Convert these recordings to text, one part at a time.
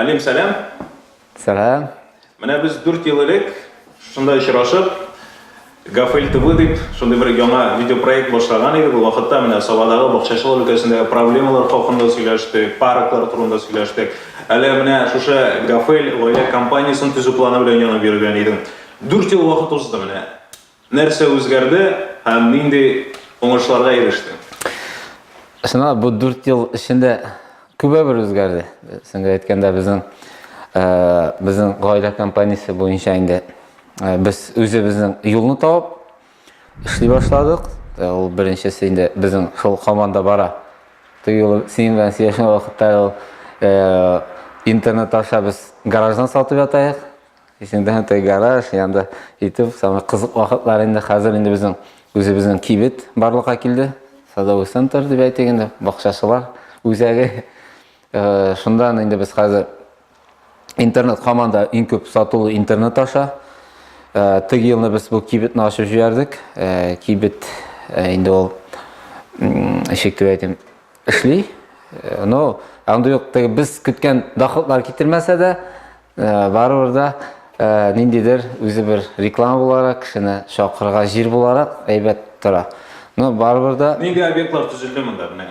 Алим, сәлам. Сәлам. Менә без 4 ел элек шунда очрашып, Гафель ТВ дип, шундый бер яңа видеопроект башлаган идек. Ул вакытта менә Сабадагы бакчачылык өлкәсендәге проблемалар хакында сөйләштек, парклар турында сөйләштек. Әле менә шушы Гафель гаилә компаниясен төзү планы белән янып йөргән идең. 4 ел вакыт узды менә. Нәрсә үзгәрде һәм нинди уңышларга ирештең? Чынлап та, бу дүрт ел эчендә күбәбер үзгәрде. Сеңгә әйткәндә, безнең безнең гаилә компаниясе буенча инде без үзебезнең юлны табып эшли башладык. Ул беренчесе инде безнең шул команда бара. Теге юлы синең белән сөйләшкән вакытта ул интернет аша без гараждан сатып ятаек. Исеңдәме теге гараж, янда итеп, самый кызык вакытлар инде хәзер инде безнең үзебезнең кибет барлыкка килде. Садовый центр дип әйтик инде, бакчачылар үзәге. Э, Шунда инде без хәзер интернет команда иң күп сатулы интернет аша. Э, теге елны без бу кибетне ачып җибәрдек. Э, кибет инде ул ишек дип әйтим, эшли. Но андый юк, теге без көткән доходлар китермәсә дә, Э, барыбер да э, ниндидер үзе бер реклама буларак кешене чакырырга җир буларак әйбәт тора но барыбер да нинди объектлар төзелде монда менә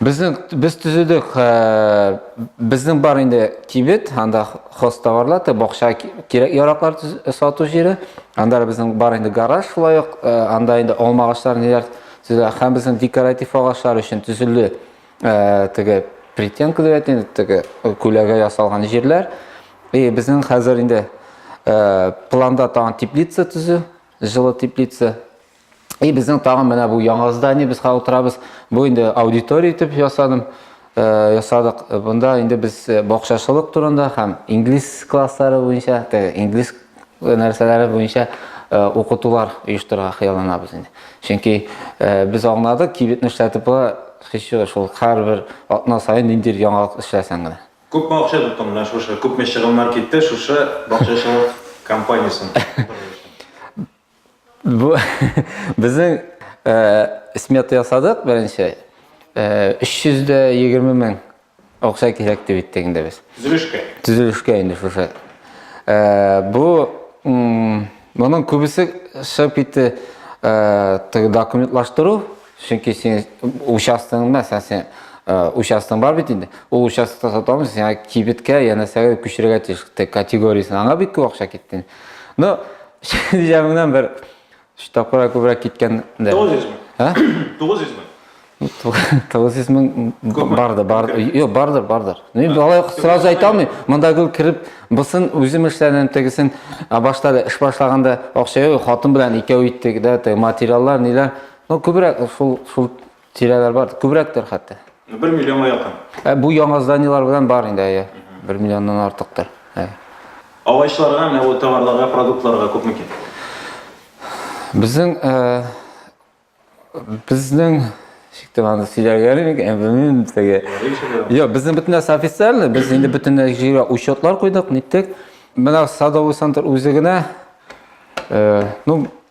безнең без төзедек э, безнең бар инде кибет анда хоз товарлар бакча кирәк яраклар сату җире анда безнең бар инде гараж шулай ук анда инде алма агачлары ниләр һәм безнең декоратив агачлар өчен төзелде Ә, теге притенка дип әйтә теге күләгә ясалган җирләр. И безнең хәзер инде ә, планда тагын теплица төзү, җылы теплица. И безнең тагын менә бу яңа здание без хәзер утырабыз. Бу инде аудитория итеп ясадым. Ә, ясадык. Бунда инде без бакчачылык турында һәм инглиз класслары буенча, теге инглиз нәрсәләре буенча укытулар оештырырга хыялланабыз инде. Чөнки без аңладык, кибетне эшләтеп була, хичү шул һәрбер атна саен ниндир яңалык эшләсәң генә. Күпме акча тотты менә шушы, күпме чыгымнар китте шушы бакчачылык компаниясен Бу безнең смета ясадык беренче. 320 мең акча кирәк дип әйттек инде без. Төзелешкә. Төзелешкә инде шушы. Бу моның күбесе шып итте документлаштыру, чөнки син участогың мәсәлән син участогың бар бит инде. Ул участокта сата алмыйсың, сиңа кибеткә, янәсәгә күчерергә тиеш категориясен. Аңа бик күп акча китте. Но Җәмеңнән бер өч тапкырга күбрәк киткән дә. 900 мең. Ә? 900 мең. 900 мең барды, барды. Юк, бардыр, бардыр. Мин балай сразу әйтә алмыйм. Монда гел кереп, бусын үзем эшләдем, тегесен башта да эш башлаганда акча юк, хатын белән икәү иттек дә, материаллар, ниләр. Ну, күбрәк шул шул Тирәләр бар, күбрәктер хәтта. Ну, бер миллионга якын. Ә бу яңа зданиелар белән бар инде, әйе. Бер миллионнан артыктыр. Әйе. Агачларга, менә бу товарларга, продуктларга күп микән? Безнең э, безнең шиктем аны сөйләргә микән, белмим теге. Йо, безнең бөтен нәрсә официально, без инде бөтен җиргә учетлар куйдык, ниттек. Менә садовый центр үзе генә э, ну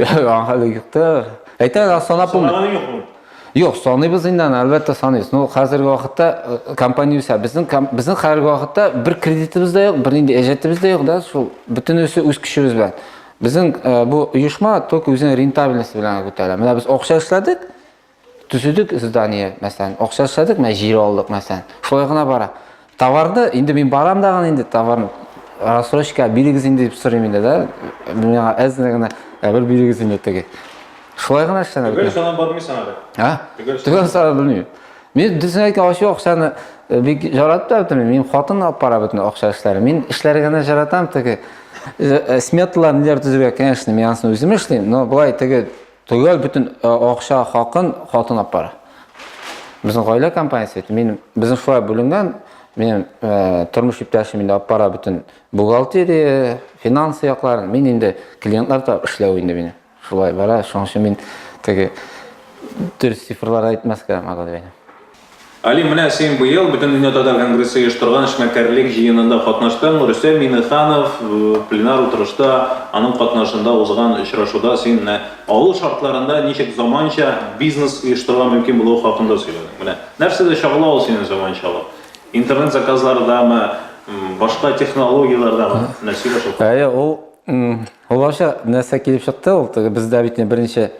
Аңа да юк та. Әйтәм, санап булмый. Санаганы юкмы? Юк, саныйбыз инде аны, әлбәттә саныйбыз. Ну, хәзерге вакытта э, компания үсә. Безнең безнең хәзерге вакытта бер кредитыбыз да юк, бер нинди әҗәтебез дә юк да, шул бөтенесе үз көчебез белән. Безнең э, бу оешма только үзенең рентабельность белән күтәрә. Менә без акча эшләдек, Төзедек здание, мәсәлән, акча эшләдек, менә җир алдык, мәсәлән. Шулай гына бара. Товарды, инде мин барам да гына инде товарны рассрочка бирегез инде дип сорыйм инде, да. Миңа әзер генә ә бер бирегез инде теге. Шулай гына эшләнә. Төгәл санап бармыйсың әле. А? Төгәл санап белмим. Мин дисең әйткән ачу акчаны э, бик жаратып та Мин хатын алып бара бөтен акча эшләре. Мин эшләргә генә жаратам теге э, э, сметалар ниләр төзергә, конечно, мин анысын үзем эшлим, но былай теге Төгәл бөтен акча хакын хатын апара. Безнең гаилә компаниясе бит. Мин безнең шулай бүленгән. Минем тормыш иптәшем инде апара бөтен бухгалтерия, финансы якларын. Мин инде клиентлар да эшләү инде мине. Шулай бара. Шуның өчен мин теге дөрес цифрлар әйтмәскә, Магадәйне. Али, менә син быел Бөтендөнья татар конгрессы оештырган эшмәкәрлек җыенында катнаштың. Рөстәм Миңнеханов пленар утырышта, аның катнашында узган очрашуда син авыл шартларында ничек заманча бизнес оештырырга мөмкин булуы хакында сөйләдең. Менә нәрсәдә чагыла ул синең заманчалык? Интернет заказлардамы, башка технологияләрдәме? Менә сөйлә шул хакта. Әйе, ул ул нәрсә килеп чыкты, ул теге бездә бит беренче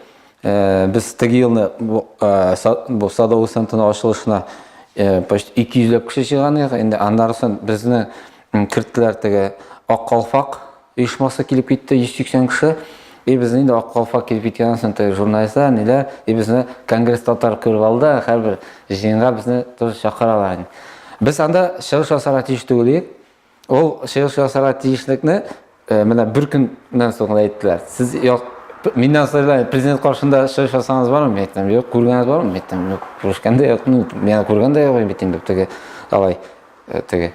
Э, без теге елны бу э, садовый центрның ачылышына э, почти ике йөзләп кеше җыйган идек инде аннары соң безне керттеләр теге ак калфак оешмасы килеп китте йөз сиксән кеше и безне инде ак калфак килеп киткәннән соң теге журналистлар ниләр и безне конгресс татар күреп алды һәрбер җыенга безне тоже чакыралар инде без анда чыгыш ясарга тиеш түгел идек Ул чыгыш ясарга тиешлекне э, менә бер көннән соң гына әйттеләр. Сез як миннән сайлай президент каршында чыгыш ясагансыз бармы? Мин әйттем, юк, күргәнегез бармы? Мин әйттем, юк, күрешкән дә юк, ну, мин күргән дә юк бит инде теге алай э, теге.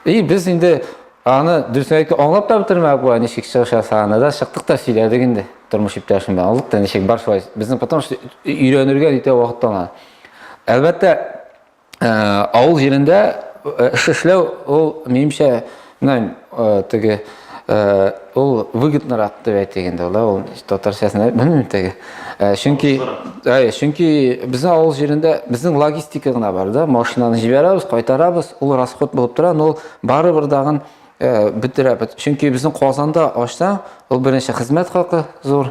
И без инде аны дөресен әйтеп аңлап та бетермәдек була, ничек чыгыш ясаганны да чыктык та сөйләдек инде тормыш иптәшем белән. Аңлык та ничек бар шулай. Безнең потому что өйрәнергә итә вакыт аңа. Әлбәттә, Авыл җирендә эш эшләү ул минемчә менә теге ул выгоднырак дип әйтик инде ул ул татарчасын белмим теге чөнки чөнки безнең авыл җирендә безнең логистика гына бар да машинаны җибәрәбез кайтарабыз ул расход булып тора но ул барыбер дагын бетерә чөнки безнең казанда ачсаң ул беренче хезмәт хакы зур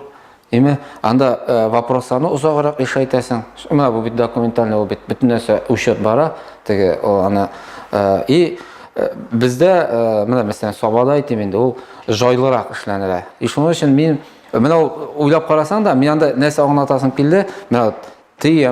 Димә, анда э, вопросларны озаграк иша итәсең. Менә бу бит документальный ул бит бөтен нәрсә учет бара, теге аны э, и э, бездә менә мәсәлән Сабада әйтим инде, ул жайлырак эшләнелә. И шуның өчен мин менә уйлап карасаң да, мин анда нәрсә аңлатасым килде, менә вот ты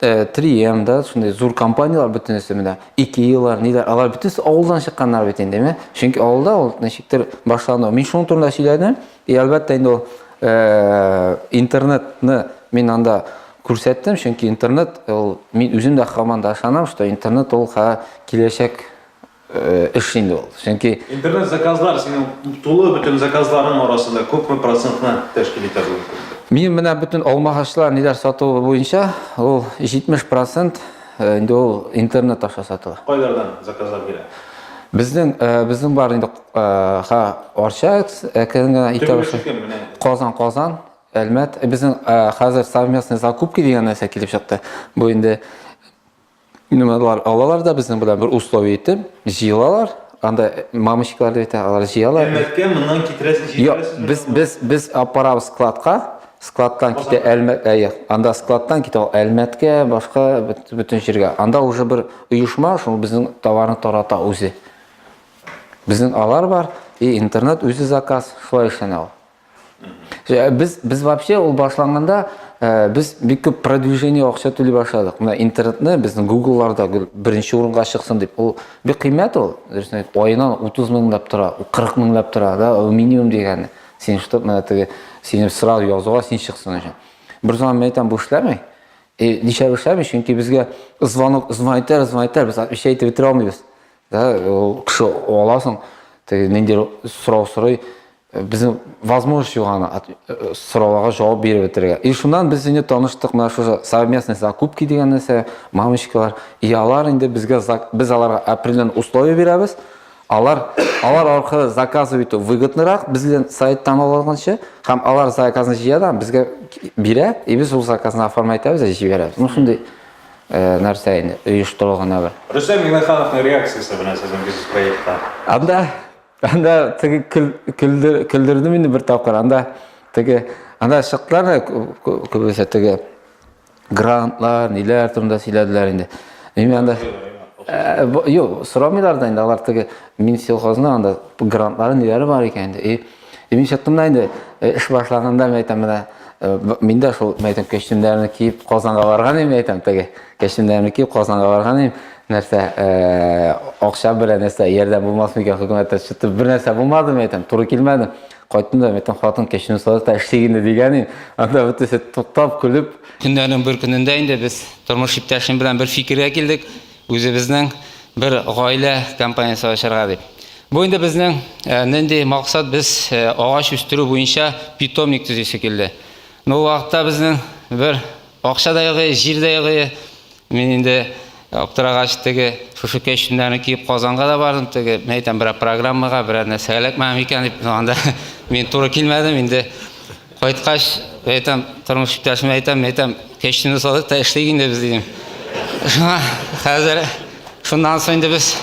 3M да шундый зур компанияләр бөтенесе менә Икеялар, ниләр, алар бөтенесе авылдан чыкканнар бит инде, әйме? Чөнки авылда ул ничектер башлану. Мин шуның турында сөйләдем. И әлбәттә инде ул э, интернетны мин анда күрсәттем, чөнки интернет ул мин үзем дә хаман да ышанам, что интернет ул ха киләчәк эш инде ул. Чөнки интернет заказлар синең тулы бөтен заказларың арасында күпме процентны тәшкил итә бу? Мин менә бөтен алмагачлар ниләр сатуы буенча ул 70% э, инде ул интернет аша сатыла. Кайлардан заказлар килә? Безнең э, безнең бар инде э, ха Арча әкренге итә Казан Казан Әлмәт. Безнең хәзер совместный закупки дигән нәрсә килеп чыкты. Бу инде Нумалар алалар да безнең белән бер условие итеп, җыелалар, анда мамочкалар дип әйтә, алар җыялар. Әлмәткә моннан китерәсез, җитерәсез. Юк, без без без апарабыз складка, складтан китә Әлмәт, әйе. Анда складтан китә Әлмәткә, башка бөтен җиргә. Анда уже бер оешма шул безнең товарны тарата үзе. Безнең алар бар, и интернет үзе заказ, шулай эшләнә ул. Э, без без вообще ул башланганда э, без бик күп продвижение акча түли башладык менә интернетны безнең гуглларда беренче урынга чыксын дип ул бик кыйммәт ул дөресен әйтеп аена утыз меңләп тора кырык меңләп тора да ул минимум дигәне син чтобы менә теге сине сразу язуга син чыксын өчен бер заман мен әйтәм бу эшләмәй и э, нишләп эшләмәй чөнки безгә звонок звонитар звонитар без отвечать итеп бетерә алмыйбыз да ул кеше аласың теге ниндидер сорау сорый Безнең возможность юк аны сорауларга җавап биреп бетерергә. И шуннан без инде таныштык, менә шушы совместный закупки дигән нәрсә, мамочкалар. И алар инде безгә без аларга определен условия бирәбез. Алар алар аркылы заказы итү выгоднырак бездән сайттан алганча, һәм алар заказны җыя да безгә бирә, и без ул заказны оформлять итәбез, җибәрәбез. Ну шундый Э, нәрсә инде оештырылган әбер рөстәм миңнехановның реакциясе белән сезнең бизнес проектка анда Анда теге көлдердем инде бер тапкыр. Анда теге анда чыктылар күбесе теге грантлар, ниләр турында сөйләделәр инде. Мин анда э, юк, сорамыйлар да инде алар теге мин сельхозны анда грантлары ниләре бар икән инде. И мин чыктым да инде э, эш башлаганда мен әйтәм менә э, мин дә шул мәйтәм костюмнарны киеп Казанга барган идем әйтәм теге. Яшендәмеки Казанга барган идем. Нәрсә, акча белән нәрсә, ярдәм булмас микән хөкүмәттә чыгып бер нәрсә булмады микән? Әйтәм, туры килмәде. Кайттым да, әйтәм, хатын кешене сорады да эшлик инде дигән идем. Анда бөтенесе туктап, көлеп. Көннәрнең бер көнендә инде без тормыш иптәшем белән бер фикергә килдек, үзебезнең бер гаилә компаниясе ачарга дип. Бу инде безнең нинди максат, без агач үстерү буенча питомник төзисе килде. Ну, вакытта безнең бер Акча да югы, җир дә югы. Мин инде аптырагач теге шушы кәчтүмнәрне киеп Казанга да бардым. Теге мен әйтәм берәр программага, берәр нәрсәгә эләкмәгән микән дип. Анда мин туры килмәдем инде. Кайткач, әйтәм, тормыш иптәшемә әйтәм, мен әйтәм, кәчтүмне сатыйк та эшлик инде без дидем. Шуңа хәзер шуннан соң инде без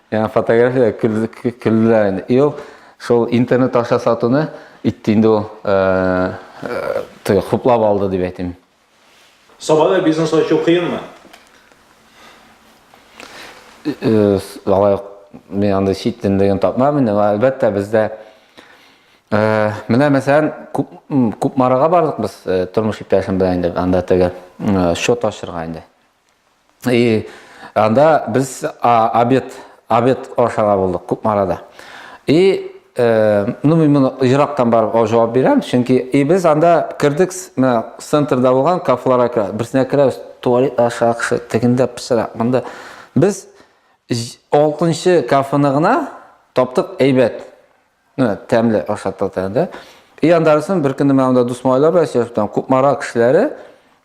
Яңа фотография көлләр инде. Ел Шул интернет аша сатуны итте инде ул э, хуплап алды дип әйтим. Сабада бизнес ачу кыенмы? Э, алай мин анда чит телендәген тапмамын әлбәттә бездә э, менә мәсәлән күпмарага бардык без э, тормыш иптәшем белән инде анда теге счет ачырга инде И анда без обед, обед ашарга булдык Кукмарада. И ну мин моны ерактан барып җавап бирәм, чөнки и без анда кердек, менә центрда булган кафеларга керә. Берсенә керәбез, туалет аша кеше тегендә пешерә. Монда без 6 нчы кафены гына таптык әйбәт. Менә тәмле ашатты тәндә. И андарысын бер көнне менә монда дус малайлар белән сөйләшептән Кукмара кешеләре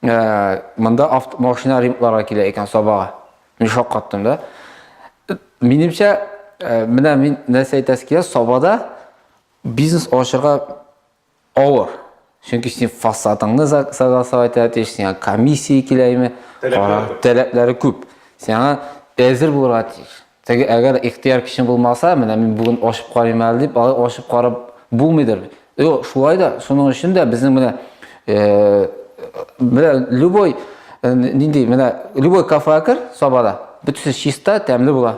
э, монда машина ремонтларга килә икән сабага. Мин шаккаттым да. Минемчә, э, менә мин нәрсә әйтәсе килә, сабада бизнес ачырга Авыр. Чөнки син фасадыңны согласовать итә, сиңа комиссия киләме? Таләпләре күп. Сиңа әзер булырга тиеш. Теге әгәр ихтияр көчең булмаса, менә мин бүген ашып карыйм әле дип, алай ашып карап булмыйдыр. Юк, шулай да шуның өчен дә безнең менә э, менә любой э, нинди менә любой кафега кер, сабада, бөтенесе чиста, тәмле була.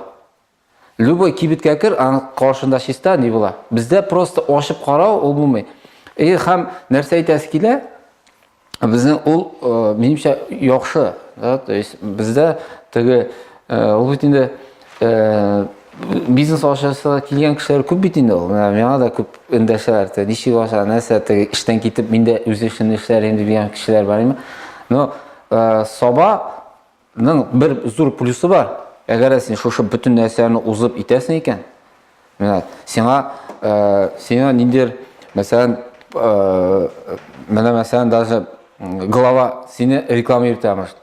Любой кибеткә кер, аның каршында чиста ни була. Бездә просто ачып карау ул булмый. И һәм нәрсә әйтәсе килә? Безнең ул э, минемчә яхшы, да, то есть бездә теге э, ул бит инде э, бизнес ашасы килгән кешеләр күп бит инде ул. Менә миңа да күп эндәшәләр. Те, ничек аша, нәрсә теге эштән китеп мин дә үз эшемне эшләр инде дигән кешеләр бар име? Но саба Ның бер зур плюсы бар. Әгәр син шушы бөтен нәрсәне узып итәсең икән, менә сиңа э, сиңа ниндер, мәсәлән, э, менә мәсәлән даже глава сине реклама йөртә может.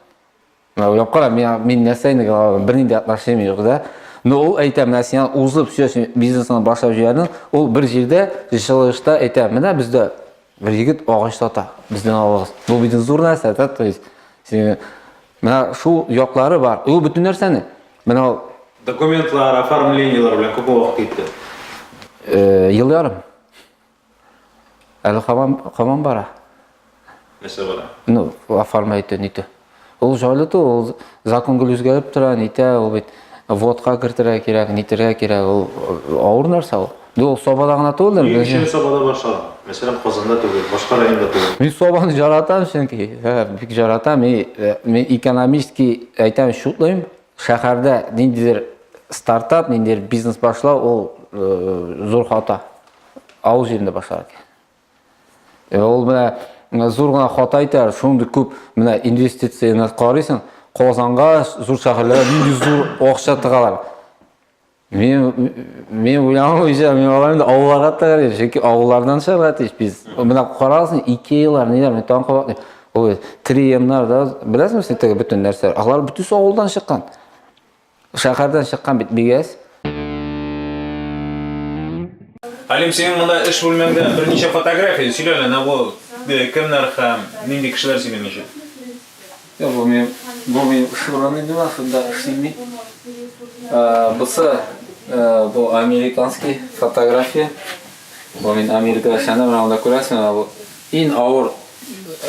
Менә уйлап кара, мин мин нәрсә инде глава, бернинди дә отношением юк, да? Но ул әйтә, менә сиңа узып все бизнесны башлап җибәрдең, ул бер җирдә җылышта әйтә, менә бездә Бер егет агач сата, бездән алыгыз. Бу бит зур нәрсә, да, то есть. Син менә шул яклары бар. Ул бөтен нәрсәне. Менә ул документлар, оформлениелар белән күп вакыт китте. Э, ел ярым. Әле хамам хамам бара. Нәрсә бара? Ну, оформлайтын итә. Ул җайлы ту, ул закон гел үзгәреп тора, нитә, ул бит водка кертергә кирәк, нитергә кирәк, ул э, авыр нәрсә ул. Бу ул Сабада гына түгел. Мин өчен Сабада башлар. Мәсәлән, Казанда түгел, башка районда түгел. Мин Сабаны жаратам, чөнки, һә, бик жаратам. Мин, э, мин экономистки әйтәм, шутлыйм. Шәһәрдә ниндидер стартап, ниндидер бизнес башлау, ул э, зур хата. Авыл җирендә башлар. Э, ул менә э, зур гына хата итә, шундый күп менә инвестицияне карыйсың, Казанга, зур шәһәрләргә нинди зур акча тыгалар. Мен мен уйланып үзем, мен аларны да авылларга тыгарым, чөнки авыллардан чыгарга тиеш без. Менә карасың, Икеялар, ниләр, мен тагын кабат. Ой, триемнар да, беләсеңме син теге бөтен нәрсә? Алар бөтенесе авылдан чыккан. Шәһәрдән чыккан бит бигәс. Алим, синең монда эш бүлмәңдә берничә фотография, сөйлә әле, әнә бу кемнәр һәм нинди кешеләр сине ничек? Юк, бу минем, бу минем эш урыны бина, шунда эшлим мин. Бусы, бу американский фотография. Бу мин Америкада эшләдем, менә монда күрәсең, менә бу иң авыр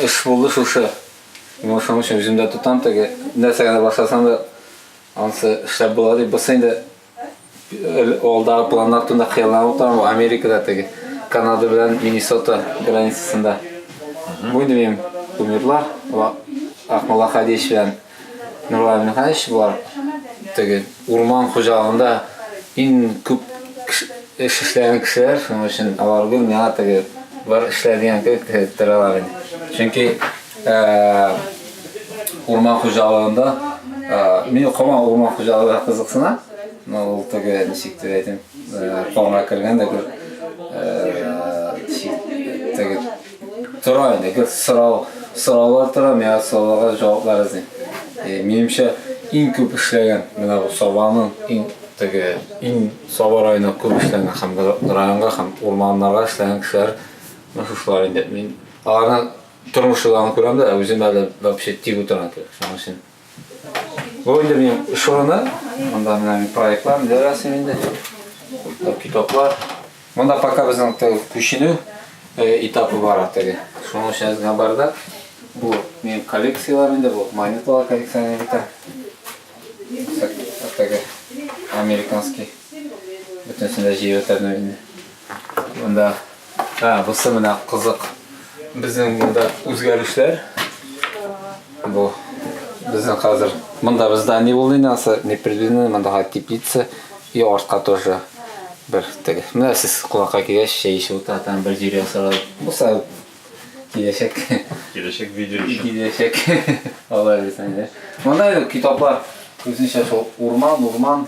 эш булды шушы. Мин шуның өчен үземдә тотам теге нәрсә генә башласам да ансы эшләп була дип. Бусы инде алдагы планнар турында хыялланып утырам. Бу Америкада теге Канада белән Миннесота границасында. Бу инде минем кумирлар. Акмулла Хадич белән Нурлан Михайлович булар теге Урман хуҗалыгында иң күп эш эшләгән кешеләр, шуның өчен алар гел миңа теге бар эшлә дигән кебек торалар иде. Чөнки урман хуҗалыгында мин кама урман хуҗалыгына кызыксына, но ул теге ничек дип әйтим, канга кергән дә гел Тора инде, гел сорау, сораулар тора, миңа сорауларга җаваплар эзлим. Э, минемчә, иң күп эшләгән менә бу Сабаның иң теге иң Саба районына күп эшләгән һәм районга һәм урманнарга эшләгән кешеләр менә шушылар инде. Мин аларның тормышларын күрәм дә, үзем әле вообще тик утырам. Шуның өчен Бу инде минем эш урыны. Монда менә мин проектлар ниләр ясыйм инде. Китаплар. Монда пока безнең күченү этапы бара теге. Шуның өчен генә барда. Бу минем коллекцияләр инде, бу монеталар коллекцияне битә. Теге американский. Бөтенесен дә җыеп бетердем инде. Монда а, бусы менә кызык. Безнең монда үзгәрешләр. Бу безнең хәзер. Монда бездә не булды нәрсә, не предвидено, монда га теплица и артка тоже бер теге. Менә сез кунакка килгәч, чәй эчеп утыра, там бер җир ясала. Буса киләчәк. Киләчәк видео өчен. Киләчәк. Алай дисәң дә. Монда китаплар, үзенчә шул урман, урман.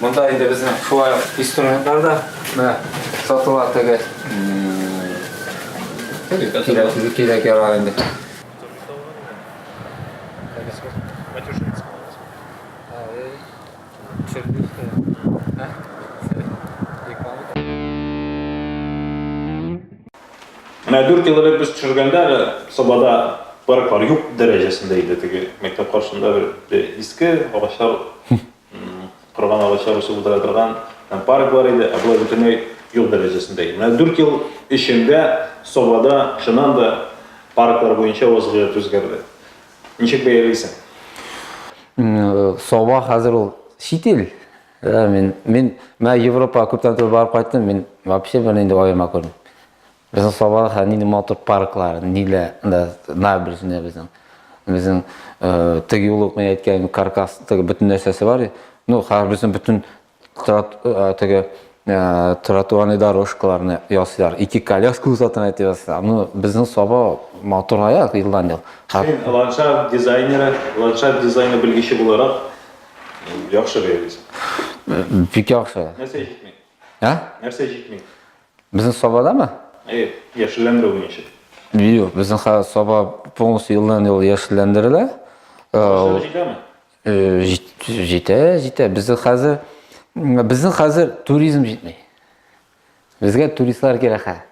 Монда инде безнең шулай инструментлар да менә сатыла теге. Кирәк яра инде. Менә 4 ел элек без төшергәндә әле Сабада парклар юк дәрәҗәсендә иде теге мәктәп каршында бер иске агачлар Корган агачлар үсеп утыра торган һәм парк бар иде, ә болай бөтенләй юк дәрәҗәсендә иде. Менә дүрт ел эчендә Собада чыннан да парклар буенча вазгыять үзгәрде. Ничек бәялисең? Соба хәзер ул чит ил. Мин, мин, мә Европага күптән түгел барып кайттым, мин вообще бернинди аерма күрмим. Безнең Сабаха нинди матур парклар, нилә, да, на берсенә безнең. Безнең э, теге юлы ук мин әйткән каркас, теге бөтен нәрсәсе бар. Ну, хәзер безнең бөтен трот, э, теге э, тротуарный дорожкаларны ясыйлар. Ике коляска узатын әйтеп ясыйлар. Ну, безнең Саба матур аяк елдан ел. Хәзер Син ландшафт дизайнеры, ландшафт дизайны белгече буларак яхшы бәялисең. бик яхшы. Нәрсә җитми? Ә? Нәрсә җитми? Безнең Сабадамы? Әйе, яшелләндерү буенча. Юк, безнең хәзер Саба полностью елдан ел яшелләндерелә. Ә, җитәме? Э, җитә, җитә. Безнең хәзер безнең хәзер туризм җитми. Безгә туристлар кирәк хәзер.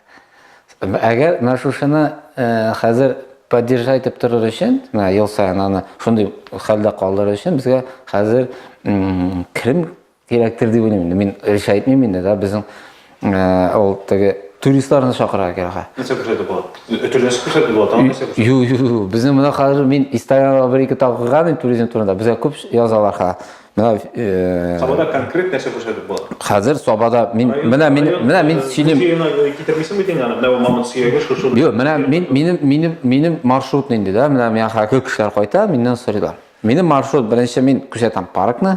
Әгәр менә шушыны э, хәзер поддержать итеп торыр өчен, менә ел саен аны шундый хәлдә калдырыр өчен безгә хәзер керем Кирәктер дип уйлыйм инде. Мин өлешә әйтмим инде да, безнең ул теге туристларны чакырырга кирәк. Нәрсә күрсәтеп була? Өтерләшеп күрсәтеп була, тагын нәрсә күрсәтеп? Юк, юк, юк. Безнең менә хәзер мин Инстаграмда бер-ике тапкырган инде туризм турында. Безгә күп язалар ха. Менә Сабада конкрет нәрсә күрсәтеп була? Хәзер Сабада мин менә мин менә мин сөйлим. Китермисең бит инде аны. Менә бу мамонт сөяге шушы. Юк, менә мин минем минем минем маршрут инде да. Менә миңа хәзер кешеләр кайта, миннән сорыйлар. Минем маршрут беренче мин күрсәтәм паркны.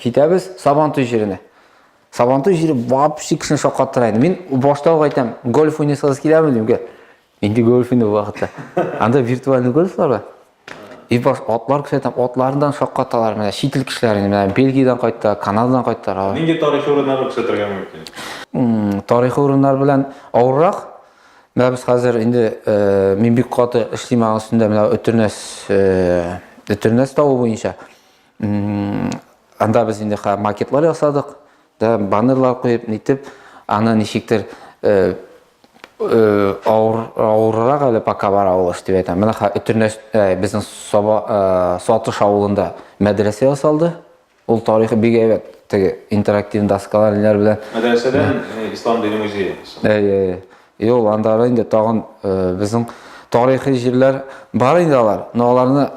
Китәбез Сабантуй җиренә. Сабантуй җире вообще кешене шаккаттыра инде. Мин башта ук әйтәм, гольф уйнасагыз киләме дим, гел. Инде гольф инде вакытта. Анда виртуальный гольфлар бар. И баш атлар күрсәтәм, атлардан шаккаталар менә чит ил кешеләрен, менә Бельгиядән кайтты, Канададан кайтты. Нинди тарихи урыннарны күрсәтергә мөмкин? Тарихи урыннар белән авыррак. Менә без хәзер инде э, мин бик каты эшлим аның өстендә, менә Өтернәс, э, Өтернәс тавы буенча. Анда без инде макетлар ясадык, да баннерлар куеп, нитеп, аны ничектер э, э, авыр авыррак әле пока бара ул эш дип әйтәм. Менә Өтернәс э, безнең Соба Сатыш авылында мәдрәсә ясалды. Ул тарихы бик әйбәт. Теге интерактив доскалар ниләр белән. Мәдрәсәдән ислам дине музее. Әйе, әйе. И ул анда инде тагын безнең тарихи җирләр бар инде алар, но аларны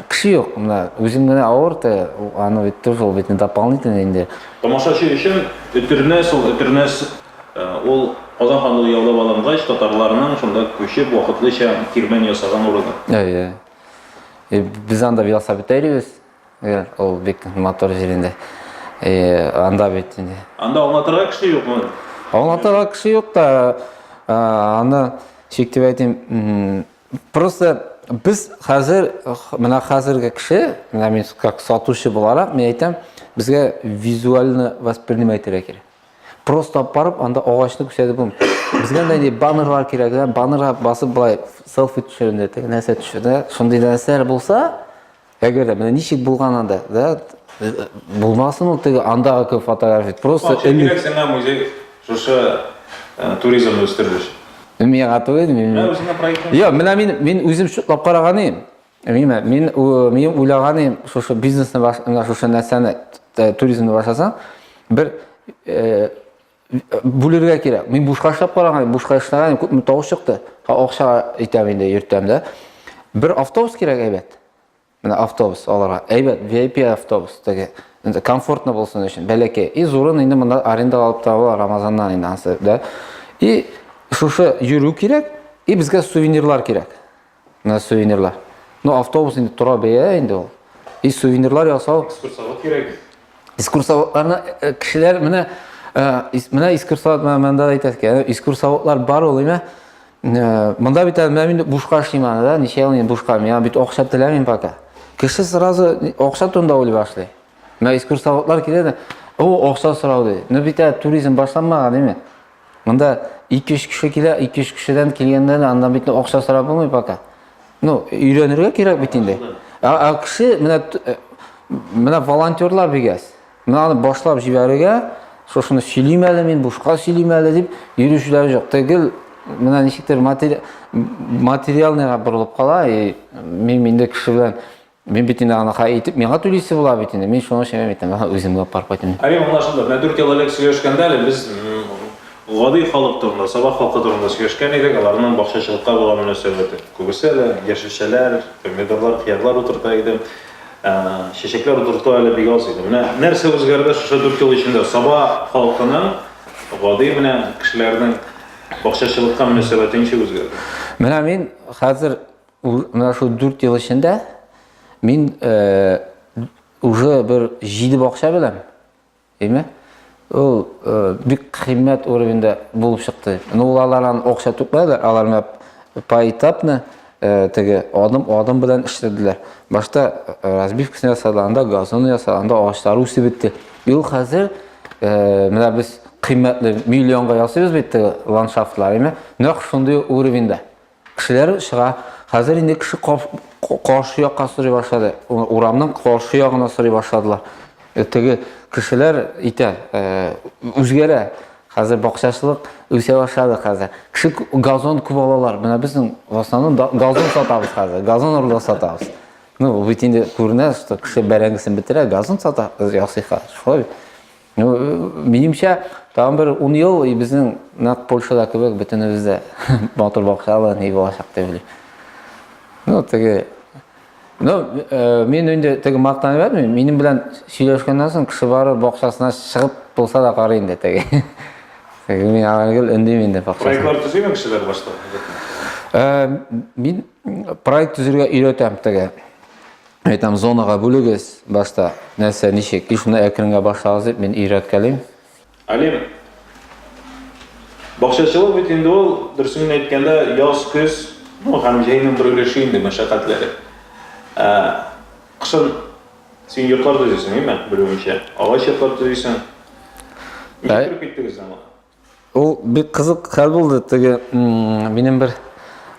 кеше юк, менә үзем генә авыр те, аны бит тоже ул бит не дополнительный инде. Тамашачы өчен Өтернәс ул Өтернәс, ул Казан ханлыгы яулап алынгач татарларның шунда күчеп вакытлыча кирмән ясаган урыны. Әйе. Без анда велосипед әйрибез. Гел ул бик матур җир инде. Э, анда бит инде. Анда аңлатырга кеше юкмы? Аңлатырга кеше юк та, э, аны шик дип әйтим. Просто без хәзер менә хәзерге кеше, менә мин как сатучы буларак, мин әйтәм, безгә визуально воспринимать итәргә кирәк. Просто барып анда агачны күрсәтеп булмый. Безгә дә инде баннерлар кирәк, баннерга басып былай селфи төшерендә, нәрсә төшерде. Шундый нәрсәләр булса, Әгәр дә менә ничек булган анда, да, булмасын ул теге андагы кебек фотография. Просто элек сиңа музей шушы э, туризмны үстерү өчен. Миңа гатуе мин. Менә үзеңә проектны. Йо, менә мин мин үзем шутлап караган идем. Мина, мин мин уйлаган идем, шушы бизнесны менә шушы нәрсәне туризмны башласаң, бер э, бүлергә кирәк. Мин бушка эшләп караган, бушка эшләгән, күпме тавыш чыкты. Акча әйтәм инде, йөртәм дә. Бер автобус кирәк әйбәт. Менә автобус аларга. Әйбәт VIP автобус теге. Инде комфортно булсын өчен, бәләкәй. И зурын инде монда аренда алып торалар Рамазаннан инде ансы, да. И шушы йөрү кирәк, и безгә сувенирлар кирәк. Менә сувенирлар. Ну, автобус инде тора бәя инде ул. И сувенирлар ясау. Экскурсовод кирәк. Экскурсоводларны э, кешеләр менә э, менә экскурсовод монда әйтәсез икән. Экскурсоводлар бар ул, әйме? Э, монда бит менә инде бушка эшлим аны, да? Ничә ел инде бушка? Миңа бит акча теләмим пока. Кеше сразу акча турында уйлый башлый. Менә экскурсоводлар килә да, "О, акча сорау" ди. Ну бит туризм башланмаган, әйме? Монда 200 кеше килә, 200 кешедән килгәндә дә аннан бит акча сорап булмый пока. Ну, өйрәнергә кирәк бит инде. Ә, ә кеше менә э, менә волонтерлар бигәс. Менә аны башлап җибәрергә, шушыны сөйлим әле мин, бушка сөйлим әле дип йөрүчеләр юк. Тегел менә ничектер матери... материалныйга борылып кала, и мин инде кеше белән Мин бит инде анакай итеп, миңа түлисе була бит инде. Мин шуның өчен мин әйтәм, ага, үзем генә парк итәм. Ә мин монда шунда, менә 4 ел элек сөйләшкәндә әле без гади халык турында, сабак халкы турында сөйләшкән идек, аларның бакчачылыкка булган мөнәсәбәте. Күбесе әле яшелчәләр, помидорлар, хыярлар утырта иде. Чәчәкләр утырту әле бик аз иде. Менә нәрсә үзгәрде шушы 4 ел эчендә? Саба халкының гади менә кешеләрнең бакчачылыкка мөнәсәбәте ничек үзгәрде? Менә мин хәзер Менә шул дүрт ел эчендә мин уже бер җиде бакча беләм. Әйме? Ул бик кыйммәт уровеньда булып чыкты. Ну, алар аны акча түкмәде, алар менә поэтапно теге адым-адым белән эшләделәр. Башта разбивкасын ясадылар, анда газон ясадылар, анда агачлар үсеп бетте. Ил хәзер менә без кыйммәтле миллионга ясыйбыз бит ландшафтлар, әйме? Нәкъ шундый уровеньда. Кешеләр чыга. Хәзер инде кеше каршы якка сорый башлады. Урамның каршы ягына сорый башладылар. Э, теге кешеләр итә, э, үзгәрә. Хәзер бакчачылык үсә башлады хәзер. Кеше газон күп алалар. Менә безнең в основном газон сатабыз хәзер. Газон урлап сатабыз. Ну, бит инде күренә, что кеше бәрәңгесен бетерә, газон сата, ясый хәзер. Шулай бит. Ну, минемчә, тагын бер 10 ел и безнең нәкъ Польшада кебек бөтенебез дә матур бакчалы ни булачак дип уйлыйм. Ну, теге Ну, э, мин инде теге мактанып әйтмим, минем белән сөйләшкәннән соң кеше бары бакчасына чыгып булса да карый инде теге. Теге мин авылгыл өндим инде бакчасына. Проектлар төзиме кешеләр башта? Э, мин проект төзергә өйрәтәм теге. Әйтәм, зонага бүлегез башта. Нәрсә, ничек? И шунда әкренгә башлагыз дип мин өйрәткәлим. Алим, бакчачылык бит инде ул, дөресен әйткәндә, яз, көз, ну, һәм җәйнең бер өлеше инде мәшәкатьләре. Ә, кышын син йортлар төзисең, әйме, белүемчә, агач йортлар төзисең. Ничек кереп киттегез аңа? Ул бик кызык хәл булды. Теге минем бер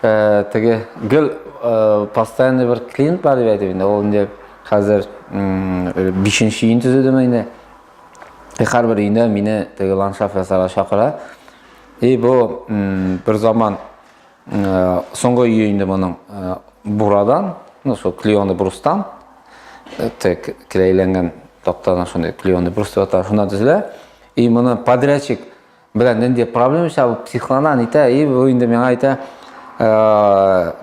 э, теге гел э, постоянный бер клиент бар дип әйтеп инде. Ул инде хәзер бишенче өен төзедеме инде. Һәрбер өендә мине теге ландшафт ясарга чакыра. И бу бер заман э, соңгы өе инде моның бурадан, ну шул клеоны брустан, тек клейләнгән тактаны шундый клеоны брус дип аталган шуннан төзелә. И моны подрядчик белән нинди проблема чыга, психлана, әйтә, и бу инде миңа әйтә,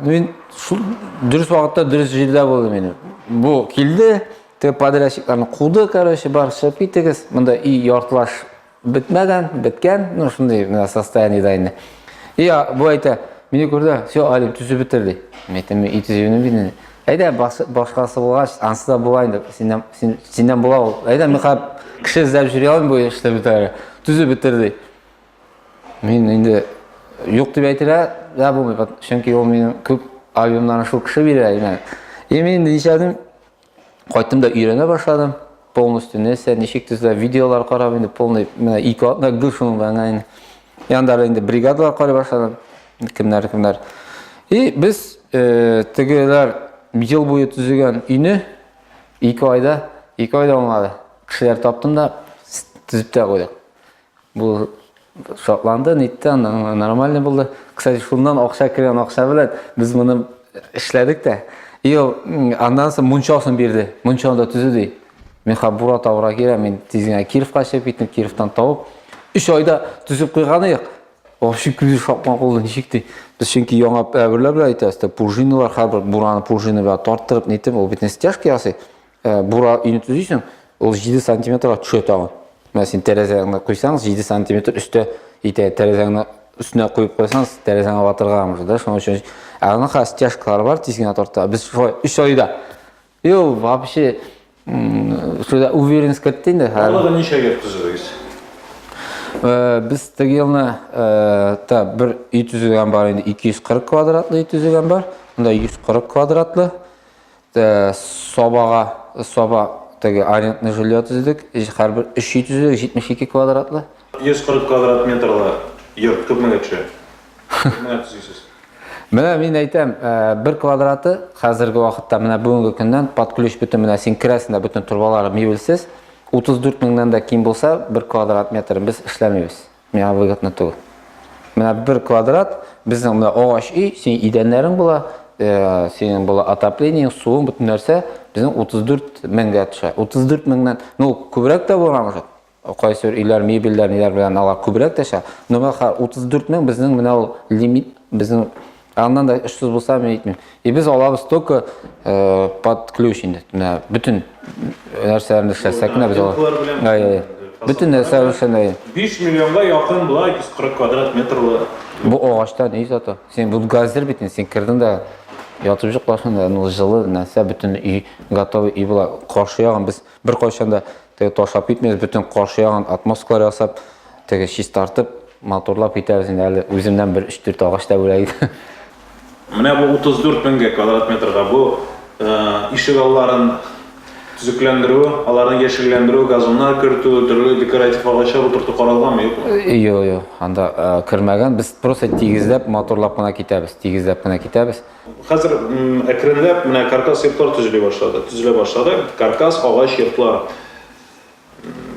мин шул дөрес вакытта дөрес җирдә булдым мин. Бу килде, те подрядчикларны куды, короче, бар чыгып китегез. Монда и яртлаш бетмәгән, беткән, ну шундый менә состояниедә инде. И бу әйтә, мине күрде, все, Алим, төзеп бетер ди. Мен әйтәм, и төзүне бит. Әйдә, башкасы булгач, ансы да була инде. Синнән, син, синнән була ул. Әйдә, мин хәп кеше эзләп йөри алмыйм бу эшне бетәр. Төзеп бетер ди. Мин инде юк дип әйтелә дә булмый, чөнки ул минем күп альбомнарны шул кеше бирә, имән. И мин ничәдем, кайттым да өйрәнә башладым. Полностью нәрсә, ничек төзелә, видеолар карап инде полный менә ике атна гүр шуның белән генә инде. Янда инде бригадалар карый башладым. Кемнәр, кемнәр. И без э, тегеләр ел буе төзегән өйне ике айда, ике айда уңады. Кешеләр таптым да төзеп тә куйдык. Бу шатланды, нитте, нормальный булды. Кстати, шуннан акча кергән акча белән без моны эшләдек тә. И ул аннан соң мунчасын бирде. Мунчаны да төзү ди. Мин хабура тавра кирәм, мин тиз генә Кировка чыгып киттем, Кировтан тавып. 3 айда төзеп куйган идек. Вообще күз шапма кулы ничек ди. Без чөнки яңа әгүрләр белән әйтәбез, пружиналар һәрбер бураны пружина белән тарттырып, нитеп, ул бит стяжка ясый. Ә, бура өйне төзисең, ул 7 сантиметрга төшә тагын. Менә син тәрәзәңне куйсаң, 7 сантиметр өстә итә. Тәрәзәңне өстенә куеп куйсаң, тәрәзәңне ватырга мөмкин, да, шуның өчен. Ә аны хәзер стяжкалар бар, тиз генә тарта. Без шулай 3 айда. И ул вообще шулай уверенность кертте инде. Аллага ничәгә төзегез? Э, без теге елны э, та бер өй төзегән бар инде, 240 квадратлы өй төзегән бар. Монда 140 квадратлы. Сабага саба теге арендный жилье төзедек. Һәрбер 3 өй төзедек, 72 квадратлы. 140 квадрат метрлы йорт күпмегә төшә? Күпмегә төзисез? Менә мин әйтәм, бер квадраты хәзерге вакытта менә бүгенге көннән под ключ бөтен менә син керәсең дә бөтен торбалары мебельсез 34 меңнән дә ким булса бер квадрат метр без эшләмибез. Миңа выгодно түгел. Менә бер квадрат, безнең менә агач өй, синең идәннәрең була, э, синең була отоплениең, суың, бөтен нәрсә безнең 34 меңгә төшә. 34 меңнән, ну, күбрәк тә булган уже. Кайсы бер өйләр, мебельләр, ниләр белән алар күбрәк тә төшә. Но бахар 34 мең безнең менә ул лимит, безнең Ә аннан да эшсез булса, мин әйтмим. И без алабыз только э, под ключ инде. Менә бөтен нәрсәләрне эшләсәк кенә без алабыз. Ай, ай. Бөтен нәрсә өчен ай. 5 миллионга якын була 140 квадрат метрлы. Бу агачтан өй зато. Син бу газер бит, син кердең дә ятып җоклашында, ну җылы нәрсә бөтен өй готовый өй була. Каршы ягын без Беркайчан да теге ташлап китмибез, бөтен каршы ягын отмосткалар ясап, теге чистартып, матурлап китәбез. Инде әле үземнән бер 3-4 агач та бүләк итә. Менә бу 34 меңгә квадрат метрга бу ишек алларын төзекләндерү, аларны яшелләндерү, газоннар кертү, төрле декоратив агачлар утырту каралганмы, юкмы? Юк, юк, анда кермәгән. Без просто тигезләп, матурлап кына китәбез, тигезләп кенә китәбез. Хәзер әкренләп менә каркас йортлар төзели башлады, төзелә башлады. Каркас агач йортлар.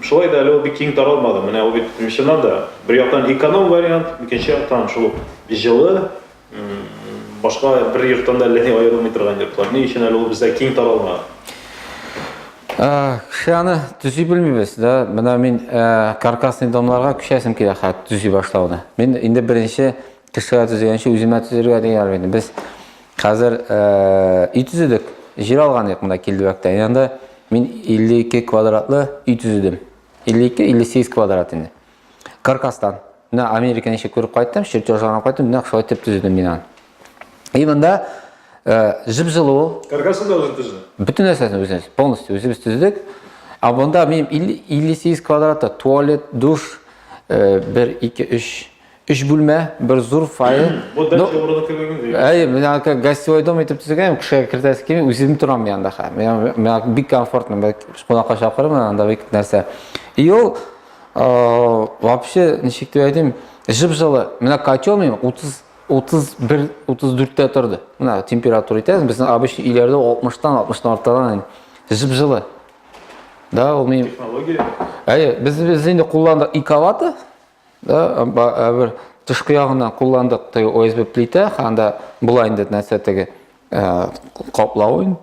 Шулай да әле ул бик киң таралмады. Менә ул бит чыннан да бер яктан эконом вариант, икенче яктан шул җылы, башка бер йорттан да әллә ни аерылмый торган йортлар. Ни өчен әле ул бездә киң таралмаган? Кеше аны төзи белмибез да. Менә мин каркасный домларга күчәсем килә хәт төзи башлауны. Мин инде беренче Кешегә төзегәнче үземә төзергә дигән инде. Без хәзер өй төзедек. Җир алган идек монда Килдебәктә. Янда мин 52 квадратлы өй төзедем. 52-58 квадрат инде. Каркастан. Менә Америка ничек күреп кайттым, чертежларына кайттым, менә шулай итеп төзедем мин аны. И монда җып-җылу. Каркасын да үзем төздем. Бөтен нәрсәсен үзебез, полностью үзебез төздек. Ә монда мин 58 квадратта туалет, душ, 1 2 3 Өч бүлмә, бер зур фойе. Бу дача Ну, урыны кебек инде. Әй, мен аңа гостевой дом итеп төзегән, кешегә кертәсе килми, үзем торам янда хә. Мен мен аңа бик комфортно, мен кунакка чакырырмын анда бик нәрсә. И ул э, вообще ничек дип әйтим, жып-жылы. Менә котел мин 30 31 34-тә торды. Менә температура итәбез, безнең обычный өйләрдә 60-тан 60-тан артадан инде. Жып-жылы. Да, ул мин Технология. Әйе, без без инде кулландык иковаты, Да, бер тышкы ягына кулландык теге ОСБ плита, анда була инде нәрсә теге каплавы.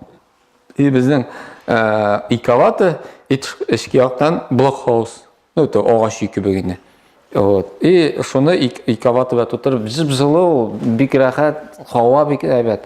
И безнең ике аваты, эчке яктан блокхаус. Ну, то агач ике бегене. Вот. И шуны ике аваты белән тутырып, җып-җылы, бик рәхәт, һава бик әйбәт.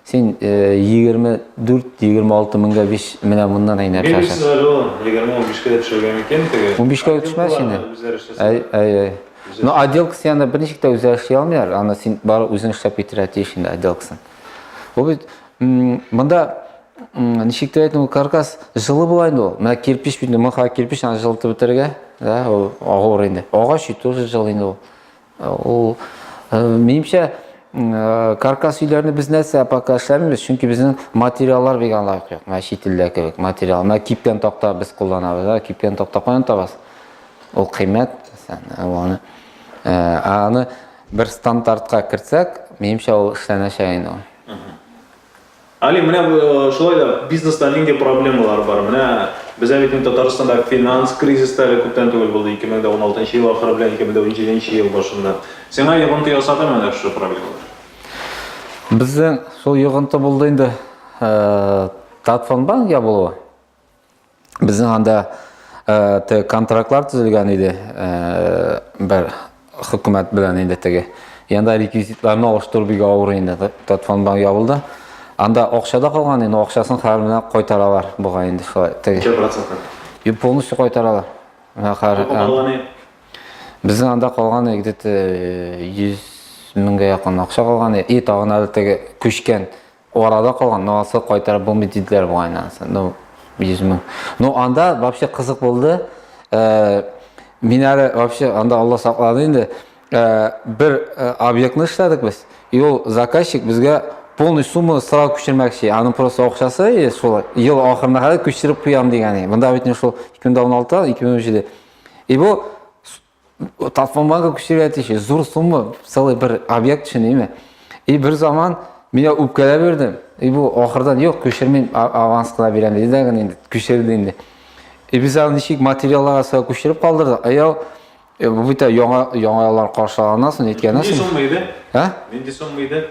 Син 24-26 меңгә биш менә моннан әй нәрсә Мин сиңа җылым, 20-15 кә дә төшергән микән теге? 15 кә төшмәс инде. Әй, әй, әй. Но отделкасы янда берничек тә үзләре эшли алмыйлар. Аны син бары үзең эшләп китерә тиеш инде отделкасын. Бу бит монда ничек тә әйтү каркас җылы була инде ул. Менә кирпич бит, моңа кирпич аны җылытып бетерергә, да, ул агыр инде. Агач ит, тоже җылы инде ул. Ул минемчә каркас өйләрне без нәрсә пока эшләмибез, чөнки безнең материаллар бик лаек юк. Менә чит илдә кебек материал. Менә кипкән такта без кулланабыз, да, кипкән такта каян табасыз? Ул кыйммәт, аны аны бер стандартка кертсәк, минемчә ул эшләнәчәк инде. Али, менә э, шулай да бизнеста нинди проблемалар бар? Менә бездә бит Татарстанда финанс кризис та әле күптән түгел булды, 2016 ел ахыры белән 2017 ел башында. Сиңа йогынты ясады менә шушы проблемалар? Бездә шул йогынты булды инде. Э, Татфонбанк ябылуы Безнең анда э, контрактлар төзелгән иде э, бер хөкүмәт белән инде теге. Янда реквизитларны алыштыру бик авыр инде. Татфон банк ябылды. Анда акчада калган инде, акчасын хәзер менә кайтаралар буга инде шулай. Теге. Юк, полностью кайтаралар. Менә хәзер. Безнең анда калган где-то 100 меңгә якын акча калган. И тагын әле теге күчкән Арада калган, ну алса кайтарып булмый диделәр бугай анысы. Ну, 100 мең. Ну анда вообще кызык булды. Э, мин әле вообще анда Алла саклады инде. Э, бер э, объектны эшләдек без. И ул заказчик безгә полный сумма сразу күчермәкче. Аның просто акчасы и шул ел ахырына кадәр күчереп куям дигән. Монда бит шул 2016-2017. И бу Тапмамага күчерә тише, зур сумма, целый бер объект өчен име. И бер заман мин үпкәләп бирдем. И бу ахырдан юк, күчермим, аванс кына бирәм диде дә инде, күчерде инде. И без аны ничек материалларга сәбәп күчереп калдырдык. Аяу э, бу бит яңа яңалар каршыланасың, әйткәннәсең. Нинди сумма иде? Ә? Нинди сумма иде?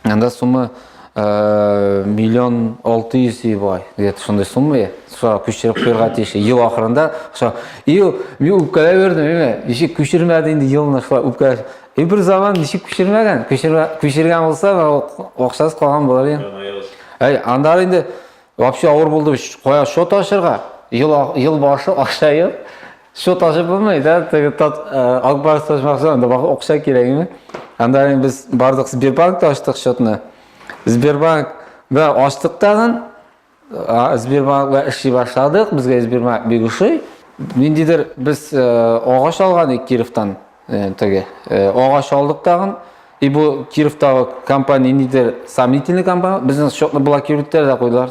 Анда сумма э, миллион алты йөз бай, где-то шундай сумма я. Шуга күчереп куярга тиеш. Ел ахырында шо ел мин үпкәләп йөрдем, әйме? Ничек күчермәде инде елны шулай үпкәләп. И бер заман ничек күчермәгән? Күчермә, күчергән булса, акчасы калган булыр инде. Әй, анда инде вообще авыр булды. Кая шот ашырга? Ел ел башы акча ел. Счет ачып булмый да, теге тат Ак Барс ачмакчы, анда бак акча кирәкме? Анда без бардык Сбербанкта ачтык счетны. Сбербанк да ачтык тагын. Сбербанкта эшли башладык, безгә Сбербанк бик ошый. Ниндидер без агач алган идек Кировтан, теге агач алдык тагын. И бу Кировтагы компания ниндидер сомнительный компания, безнең счетны блокировать итәләр дә куйдылар.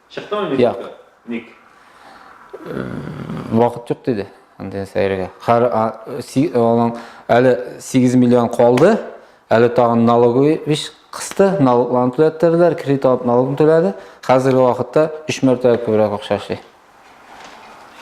Чыктымы мин Як. юкка? Ник? Вакыт юк диде. Андый сәйрегә. Хәр аның әле 8 миллион калды. Әле тагын налоговый биш кысты, налогларын түләттерделәр, кредит алып налогын түләде. Хәзерге вакытта 3 мәртәбә күбрәк акча эшли.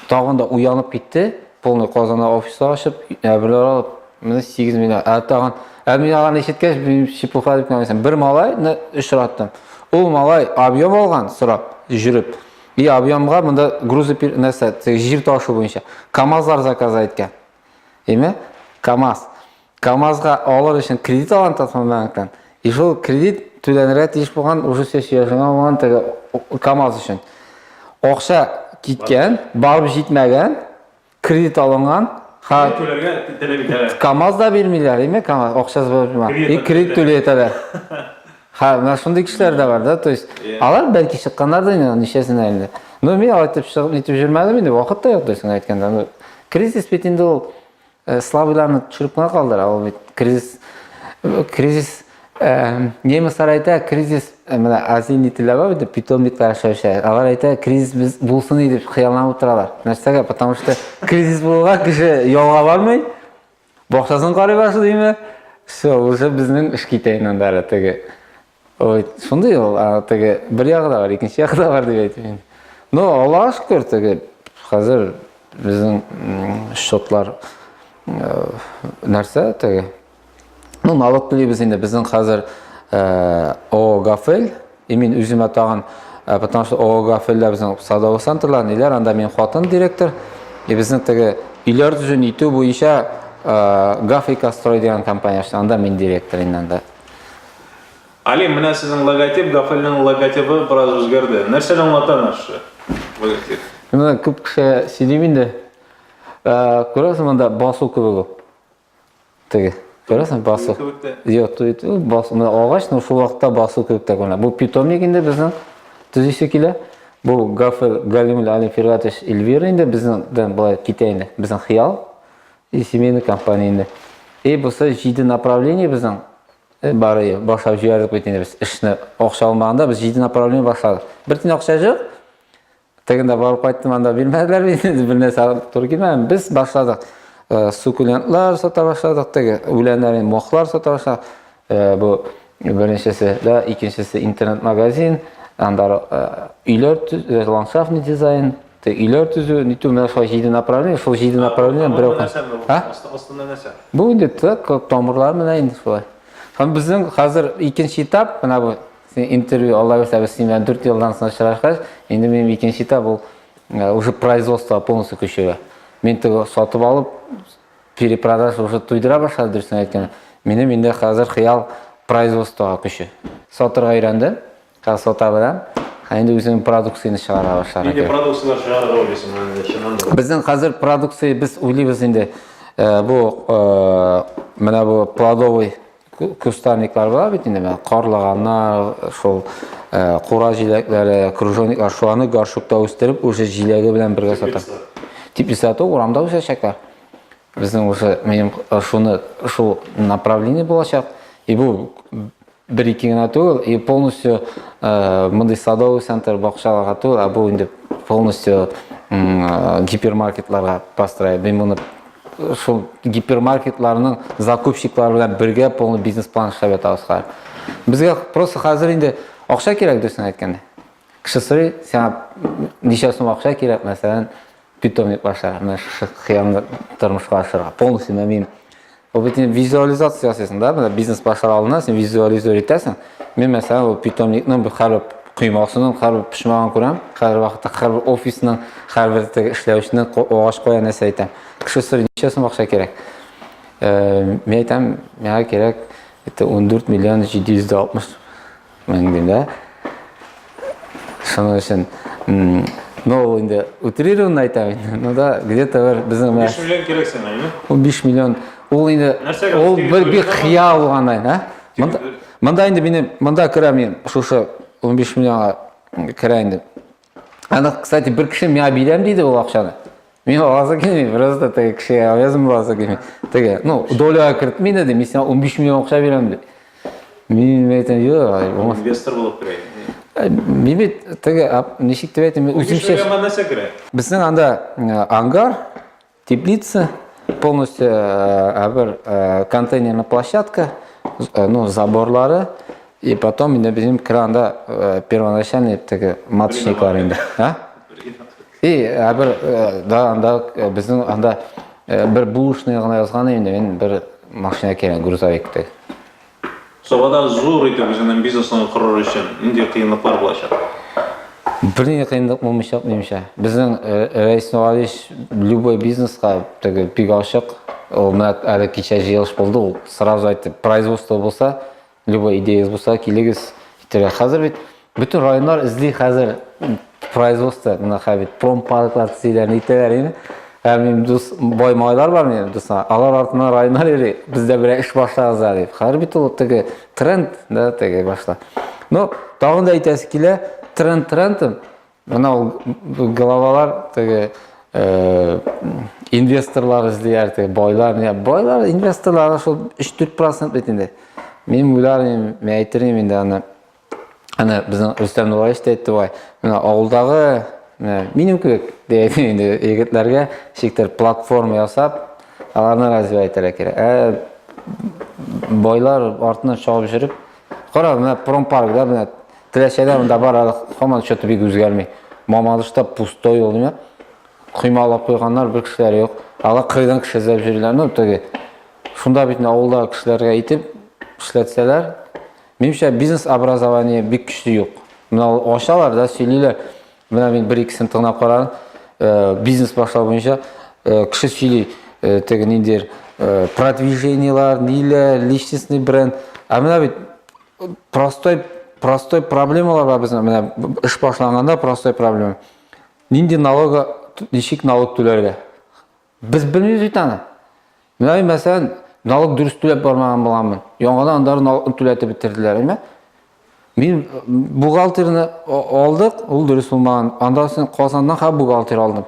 Тагын да уянып китте. Полный Казанда офиста ашып, әбиләр алып, менә 8 миллион. Ә тагын, ә мин аларны ишеткәч, чепуха дип кенә Бер малайны очраттым. Ул малай объем алган, сорап, жүреп. И объемга монда грузы нәрсә, җир ташу буенча. КАМАЗлар заказа иткән. Име? КАМАЗ. КАМАЗга алыр өчен кредит алган Татмамбанктан. И шул кредит түләнергә тиеш булган уже сессиясенә булган теге КАМАЗ өчен. Акча киткән, барып җитмәгән, кредит алынган. Ха, Түләргә теләп итәләр. КАМАЗ да бирмиләр, име КАМАЗ акчасы булып тора. Кредит И кредит түли итәләр. Ха, менә шундый кешеләр дә бар, да, то есть. Иә. Алар бәлки чыкканнар да инде, ничәсенә инде. Ну, мин алай итеп чыгып итеп җөрмәдем инде, вакыт та юк дисең әйткәндә. Ну, кризис бит инде ул Э, слабыйларны төшереп кенә калдыра ул бит кризис э, кризис э, немецлар әйтә кризис менә азин ителә бар бит питомниклар яшәүче алар әйтә кризис без булсын иде дип хыялланып утыралар нәрсәгә потому что кризис булуга кеше ялга бармый бакчасын карый башлыймы все уже безнең эш китә инде анда теге Ой, шундый ул, теге бер ягы да бар, икенче ягы да бар дип әйтим инде. Ну, Аллаһ шөкер, теге хәзер безнең счетлар нәрсә теге? Ну, налог төлибез инде, безнең хәзер ООО Гафель, и мин үземә тагын, потому что ООО Гафельдә безнең садовый центрлар, ниләр, анда мин хатын директор, и безнең теге өйләр төзүне итү буенча Гафрика строй дигән компания, анда мин директор инде анда. Алим, менә сезнең логотип, Гафелнең логотибы бераз үзгәрде. Нәрсәне аңлата менә шушы логотип? Менә күп кеше сөйлим инде. Э, күрәсең монда басу кебек ул. Теге. Күрәсең басу. Юк, туйт. Басу менә агач, но шул вакытта басу кебек тә күренә. Бу питомник инде безнең төзисе килә. Бу Гафел Галимул Алим Фиргатович Эльвира инде безнеңдән былай китә инде. Безнең хыял и семейный компания инде. И бусы җиде направление безнең Бары башлап җибәрдек бит инде без эшне. Акча алмаганда без җиде направление башладык. Бер тин акча җык. Тегендә барып кайттым, анда бирмәделәр бит инде, бер нәрсә туры килмәгән. Без башладык. Э, сукулентлар сата башладык, теге үләннәрен, мохлар сата башладык. Э, бу беренчесе дә, икенчесе интернет-магазин, анда э, өйләр, ландшафтный дизайн, Те өйләр төзү, нитү менә шулай җиде направление, шул җиде направление берәү. Астында нәрсә? Бу инде тык тамырлар менә инде шулай. Һәм безнең хәзер икенче этап, менә бу интервью Алла бирсә без синең белән 4 елдан соң очрашкач, инде минем икенче этап ул э, уже производство полностью көчәя. Мин теге сатып алып перепродаж уже туйдыра башлады дөресен әйткәндә. Минем инде хәзер хыял производствога көче. Сатырга өйрәндем. Красота белән. Ә инде үзенең продукцияне чыгара башлар. Инде продукцияләр чыгарырга уйлыйсың инде чыннан да. Безнең хәзер продукция без уйлыйбыз инде. Э, бу э, менә бу плодовый кустарниклар бар бит инде менә карлаганнар, шул э, кура җиләкләре, кружониклар, шуларны горшокта үстереп, уже җиләге белән бергә сата. Теплица то урамда үсәчәкләр. Безнең уже минем шуны шул направление булачак. И бу Бер-ике генә түгел, и полностью э, мондый садовый центр бакчаларга түгел, а бу инде полностью э, гипермаркетларга построить. Мин моны э, шул гипермаркетларның закупщиклары белән бергә полный бизнес план эшләп ятабыз хәзер. Безгә просто хәзер инде акча кирәк дөресен әйткәндә. Кеше сорый, сиңа ничә сум акча кирәк, мәсәлән, Питомник аша менә шушы хыялны тормышка ашырырга полностью менә мин ул бит инде визуализация ясыйсың да менә бизнес башлар алдыннан син визуализировать итәсең мин мәсәлән ул питомникның һәрбер коймасының һәрбер почмагын күрәм һәрбер вакытта һәрбер офисның һәрбер теге эшләүченең агач кая нәрсә әйтәм кеше сорый ничә сум акча кирәк э, мин әйтәм миңа кирәк это он дүрт миллион җиде йөз дә алтмыш Мәңге, да? Шуның өчен, ну, ул инде утрированно айтам инде, ну да, где-то бер безнең менә 5 миллион кирәк сиңа, әйме? Ул 5 миллион, ул инде ул бер бик хыял булган айна. Монда инде минем, монда керәм мин, шушы 15 миллионга керә инде. Аны, кстати, бер кеше миңа бирәм диде ул акчаны. Мин аласы килми, просто теге кеше авязым буласы килми. Теге, ну, доляга кертми диде, мин сиңа 15 миллион акча бирәм диде. Мин әйтәм, юк. Инвестор булып керәй. Э, мин бит теге, ничек дип әйтәм, үземчә. Безнең анда э, ангар Теплица, полностью ә, бер ә, контейнерная площадка, ә, ну, заборлары, и потом инде безнең кранда ә, первоначальный теге маточниклар инде. А? И ә, бер ә, да, анда ә, безнең анда ә, бер булышный гына язган инде, мин бер машина кирәк, грузовик теге. Сабада зур итеп үзеңнең бизнесыңны корыр өчен нинди кыенлыклар булачак? Бернинди кыенлык булмыйчак, минемчә. Безнең Рәис Нуравич любой бизнеска теге бик ачык. Ул менә әле кичә җыелыш булды, ул сразу әйтте, производство булса, любой идеяз булса, килегез, итәргә. Хәзер бит Бөтен районнар эзли хәзер производство, менә хәбит промпарклар төзиләр, нитәләр инде. Һәм мин дус бай малайлар бар минем дуслар. Алар артына районнар йөри. Бездә берәр эш башларыз да дип. Хәзер бит ул теге тренд, да, теге башта. Но тагын да әйтәсе килә, тренд трендым. Менә ул головалар теге э, инвесторлар эзлиләр, теге байлар, не байлар, инвесторлар шул 3-4% бит инде. Мин уйларым, мин әйтерем инде аны. Әнә безнең Рөстәм Нураевич та әйтте бай. Менә авылдагы минем кебек дигән инде егетләргә шиктер платформа ясап, аларны развивать итәргә кирәк. Ә байлар артыннан чабып жүреп, кара, менә промпаркда менә Теләчәдә монда бар, әле һаман счеты бик үзгәрми. Мамадышта пустой ул, димә. Коймалап куйганнар, бер кешеләр юк. Алар кырдан кеше эзләп йөриләр, ну, теге. Шунда бит авылда кешеләргә итеп эшләтсәләр, Минемчә, бизнес образование бик көчле юк. Менә ул ачалар да сөйлиләр. Менә мин бер икесен тыңлап карадым. Э, бизнес башлау буенча э, кеше сөйли э, теге ниндидер продвижениелар, ниләр, личностный бренд. Ә менә бит простой простой проблемалар бар безнең менә эш башланганда простой проблема нинди налога ничек налог түләргә Без белмибез бит аны. Менә мин мәсәлән, налог дөрес түләп бармаган булганмын. Яңадан андагы налогны түләтеп бетерделәр, әйме? Мин бухгалтерны алдык, ул дөрес булмаган. Анда син Казаннан ха бухгалтер алдым.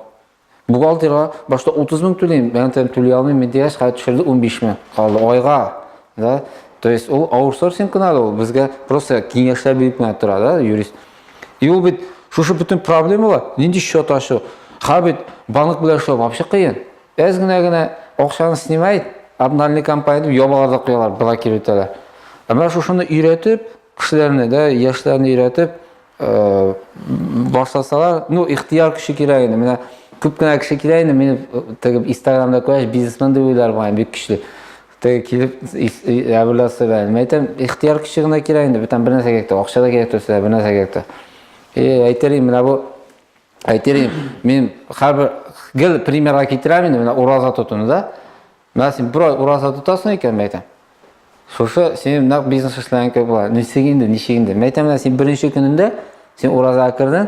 Бухгалтерга башта 30 мең түлим, мен тем түли алмыйм, мен дигәч, хәзер төшерде 15 мең калды айга. Да? То есть ул аутсорсинг кына ул, безгә просто киңәшләр биреп кенә тора, да, юрист. И ул бит шушы бөтен проблемалар, нинди счет ачу? Ха бит банк белән эшләү вообще кыен. Әз генә генә акчаны снимает, обнальный компания дип ябалар да куялар, блокир итәләр. Ә менә шушыны өйрәтеп, кешеләрне дә, яшьләрне өйрәтеп, э, башласалар, ну, ихтияр кеше кирәк инде. Менә күп кенә кеше кирәк инде, мин э, тегеп Инстаграмда күрәч, бизнесмен дип уйлар мага бик көчле. Теге килеп, әбүласы белән. Мин әйтәм, ихтияр көче генә кирәк инде, бүтән бер нәрсә кирәк тә, акча да кирәк төсле, бер нәрсә кирәк тә. И, әйтерим, менә бу әйтерим, мин хәбәр гел примерга китерәм инде, менә ураза тотуны да. Менә син бер ай ураза тотасың икән, мин әйтәм. Шушы синең нәкъ бизнес эшләгән кебек була. Ничек инде, ничек инде? Мин әйтәм, менә син беренче көнендә син уразага кердең,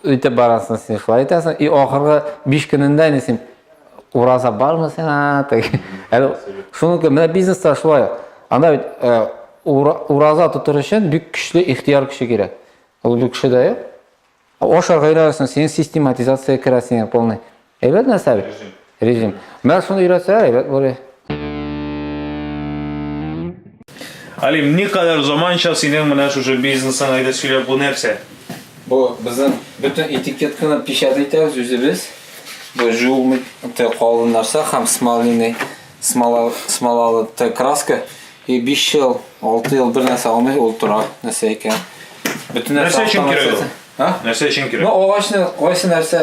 Үтеп барасың, син шулай итәсең. И ахыргы 5 көнендә инде син ураза бармы сиңа? Әле шуныкы менә бизнеста шулай. Анда бит э, ураза тотыр өчен бик көчле ихтияр көче кирәк. Ул бик көчле дә. Ашарга өйрәнәсең, син систематизация керәсең полный. Әйбәт нәрсә бит. Режим. Менә шуны өйрәтсә, әйбәт булыр. Алим, ни кадәр заманча синең менә шушы бизнесың, әйдә сөйлә, бу нәрсә? Бу безнең бөтен этикетканы печат итәбез үзебез. Бу жуылмый те калын нәрсә һәм смолиный, смола, смолалы те краска. И 5 ел, 6 ел бер нәрсә алмый ул тора, нәрсә икән. Бөтен нәрсә өчен кирәк ул? Нәрсә өчен кирәк? Ну, агачны кайсы нәрсә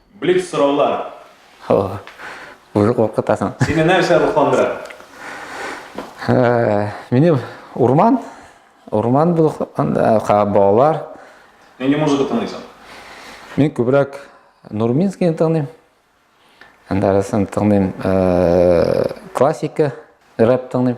Блиц сораулар. О, уже куркытасың. Сине нәрсә рухландыра? Мине урман, урман бу анда балалар. Нинди музыка тыңлыйсың? Мин күбрәк Нурминскийны тыңлыйм. Анда арасында тыңлыйм классика, рэп тыңлыйм.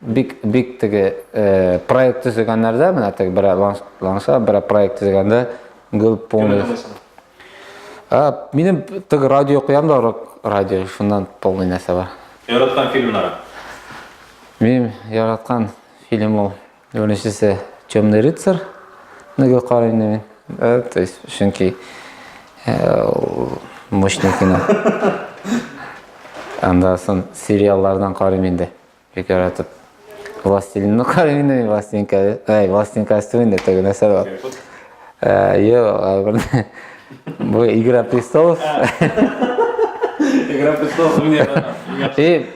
Бик, бик теге проект төзегәннәрдә, менә теге бер ланса, бер проект төзегәндә гел полный. Минем теге радио куям да, рок радио, шуннан полный нәрсә бар. Яраткан фильмнары? Мин яраткан фильм ул. Беренчесе Темный рыцарь. Нигә карыйм мин? Э, то есть, чөнки э, мощный кино. Анда сон сериаллардан карыйм инде. Бик яратып. Властелин, ну как именно властелин, ай, властелин костюм инде теге нәрсә бар. Йо, бу Игра престолов. Игра престолов уйнап. И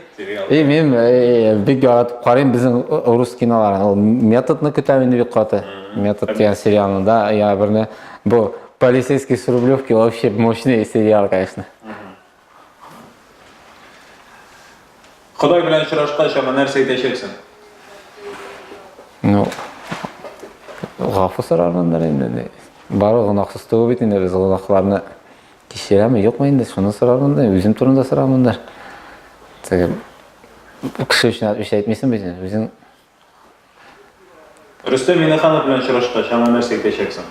И мен бик яратып карыйм безнең рус киноларын. Ул методны көтәм инде бик каты. Метод дигән сериалны да, я берне бу полицейский с Рублевки вообще мощный сериал, конечно. Ходай белән очрашкач, аңа нәрсә әйтәчәксең? Ну, гафу сорармындыр инде. Бары гынахсыз түгел бит инде без гынахларны кичерәме, юкмы инде, шуны сорармын да, үзем турында сорармын да. Теге кеше өчен эш әйтмисең бит, үзең Рөстәм Минеханов белән очрашкач, аңа нәрсә әйтәчәксең?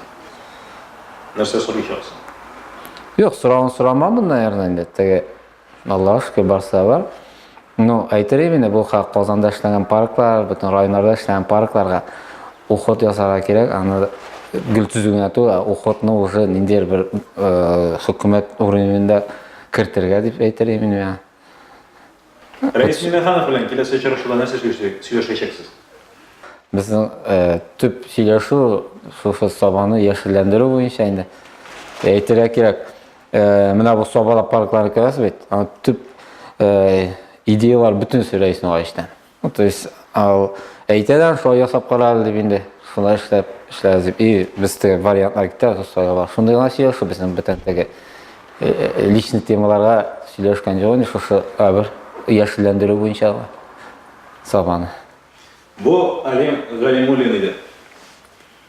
Нәрсә сорыйчаксың? Юк, сорауын сорамамын, наверное, инде. Теге Аллаһ шөкер барсы да бар. Ну, әйтер идем инде, бу Казанда эшләнгән парклар, бөтен районнарда эшләнгән паркларга уход ясарга кирәк, аны гел төзү генә түгел, ә уходны уже ниндидер бер хөкүмәт уровенендә кертергә дип әйтер идем мин. Рәис Миңнеханов белән киләсе очрашуда нәрсә сөйләшәчәксез? Безнең э, төп сөйләшү шушы сабаны яшелләндерү буенча инде. Әйтергә кирәк, э, менә бу сабалап паркларны күрәсез бит, аны төп э, идеялар бөтенесе Рәиснең гаештән. Ну, то есть, ал, әйтәләр, шулай ясап кара әле дип инде. Шулай эшләп, эшләбез дип. И, без теге вариантлар китә, составлар. Шундый гына сөйләшү безнең бөтен теге э, э, личный темаларга сөйләшкән җо, инде шушы әбер яшелләндерү буенча сабаны. Бу Алим Галимуллин иде.